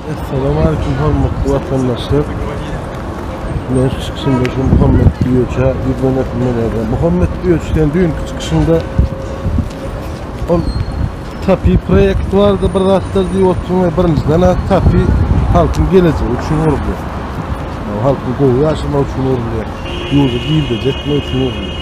Assalamu aleykum hormatly watandaşlar. Men şu çykyşymda şu Muhammed Güýeçe ýüzden öpmeli ederim. Muhammed Güýeç sen düýnki çykyşyňda ol TAPI proýekt bardy bir zatlar diýip oturyň we birinjiden ha TAPI halkyň gelejegi üçin gurulýar. Yani halkyň gowy ýaşamak üçin gurulýar. Ýurdy girdejekmek üçin gurulýar.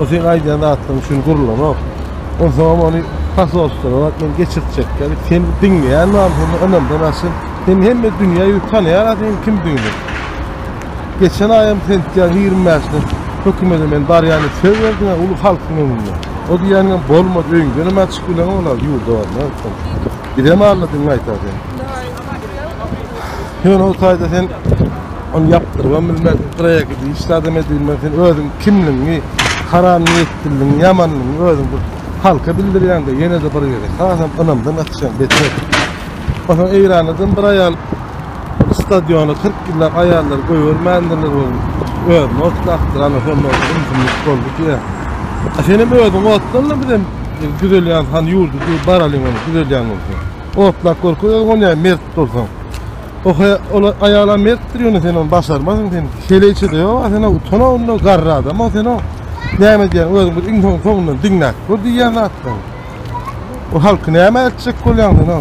O sen aýdýan zatlaryň üçin gurulanok. Onsoňam ony pasolstwolap men geçirtjekler. Sen diňleýän bam seni ynamdan aşyr. Seni hemme dünýä ýüz tanýar seniň kimdigiňi. Geçen aýam sentýabyň ýigrimi bäşinde hökümede men barýan diýip söz berdiň, uly halkyň öňünde. O diýýäniňem bolmady, öýüňdenem çykyp bileňok, ýurda barma. Bizem alladygňy aýtar sen. Sen o sayda sen onu yaptırgan bilmez, kıraya gidiş, sadem edilmez, sen özün kimliğini, haram niyetliğini, yamanlığını özün bu halka bildirýän de ýene de bir ýere. Hasam ynamdan atýan beter. Ondan Eýrandan bir aýal stadiona 40 ýyllap aýallar goýbermändirler ol. Özüni otlapdyran sonda ümsümlik boldy diýýär. Sen hem özüň otlanma bizem düzelýän han ýurdu diýip baralyň onu düzelýän bolsa. Otlap görki özüň ol ýaly mert bolsaň. O he ol aýalam mertdir ýöne sen ony başarmazsyň sen. Şeýleçede ýoga sen o utan onda garry adam o sen o. Näme diýýän özüň bir iň soň soňundan diňläp gör diýýän zatlaryň. O halky näme etjek bolýaň sen o.